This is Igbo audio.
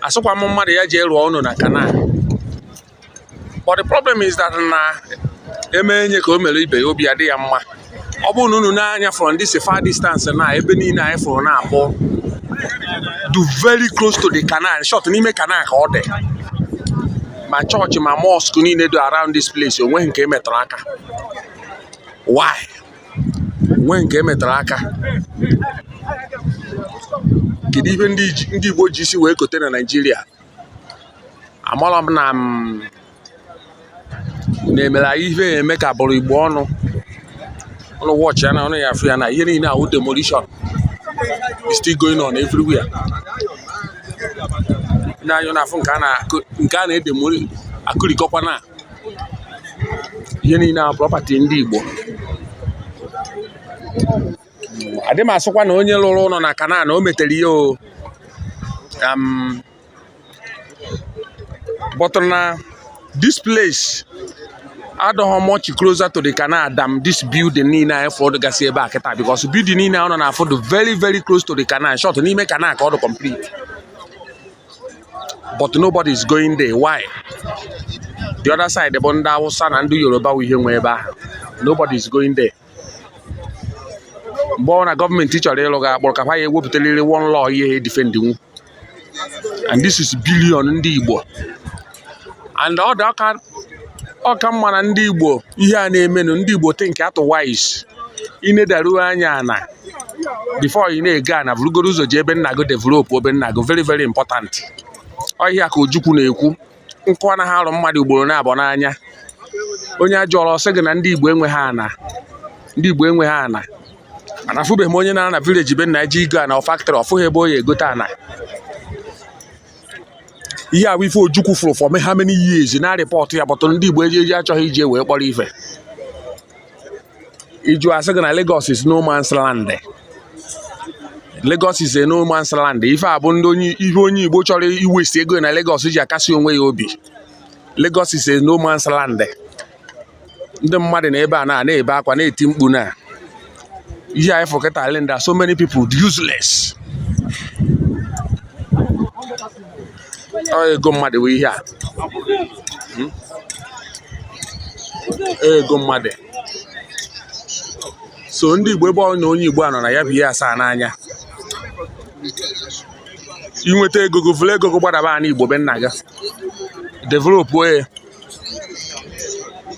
asịkwa m mmadụ ya jee rụọ ụnọ na canal but the problem is that na e mee onye ka e mere ibe ya obi adị ya mma ọ bụrụ na unu nee anya from this far distance na ebe niile anyị fụrụ na-akpọ dụ very close to the canal short n'ime canal ka ọ dị ma chọọchị ma mosque niile dụ around this place onweghị nke emetụrụ aka why nweghị nke emetụrụ aka kedu ihe ndị Igbo ji isi wee kote na Naịjirịa amarọ m na mm, na-emere anyị ife eme ka a bụrụ Igbo ọnụ unu watch ya na unu ya-afụ ya na ihe niile ahụ demolition is still going on everywhere na anyị na-afụ nke a na-edemolish akụrikọkwa na ihe niile a prọpati ndị Igbo adịghị m asịkwa na onye lụrụ ụnọ na canal na o metara ya but na this place adịghị much closer to the canal than this building niile anyị fụ dụgasị ebe a kịta because building niile unu na-afụ dụ very very close to the canal short n'ime canal ka ọ dị complete but nobody is going there why the other side bụ ndị Hausa na ndị Yoruba wụ ihe nwe ebe ahụ nobody is going there mgbe ọbụna gọọmenti chọrọ ịlụ ga akpọrọ ka ha ya ewepụtaliri one law ihe ha edefend onwe and this is billion ndị Igbo and ọ dị ọka ọka mma na ndị Igbo ihe a na-emenụ ndị Igbo think otherwise i nedaruo anya na before ị na-ego ana vurugodu ụzọ jee be nna gị develop be nna gị very very important ọ ihe a ka Ojukwu na-ekwu nkụ anaghị arụ mmadụ ugboro naabọ n'anya onye a jụrụ ọ sị gị na ndị Igbo enweghị ana ndị Igbo enweghị ana ana afụbeghị m onye na-ana na village be nna ji igo ana or factory ọ fụghị ebe ọ ya-egote ana ihe a bụ ife ojukwu fụrụ for me how many years na-report ya but ndị igbo eji eji achọghị iji ya wee kpọrọ ife ị jụọ a sị gị na Lagos is no man's land Lagos is a no man's land ife a bụ ndị onye ihe onye igbo chọrọ iwaste ego na Lagos ji akasi onwe ya obi Lagos is a no man's land ndị mmadụ nọ ebe a na na-ebe akwa na-eti mkpu na ihe anyị fụ kịta render so many people useless ọ ego mmadụ bụ ihe a hmm? ego mmadụ so ndị igbo ebe ọbụna onye igbo a nọ na ya bụ ihe asaa n'anya i nweta ego gị vuru ego gị gbadaba ana igbo be nna gị develop ya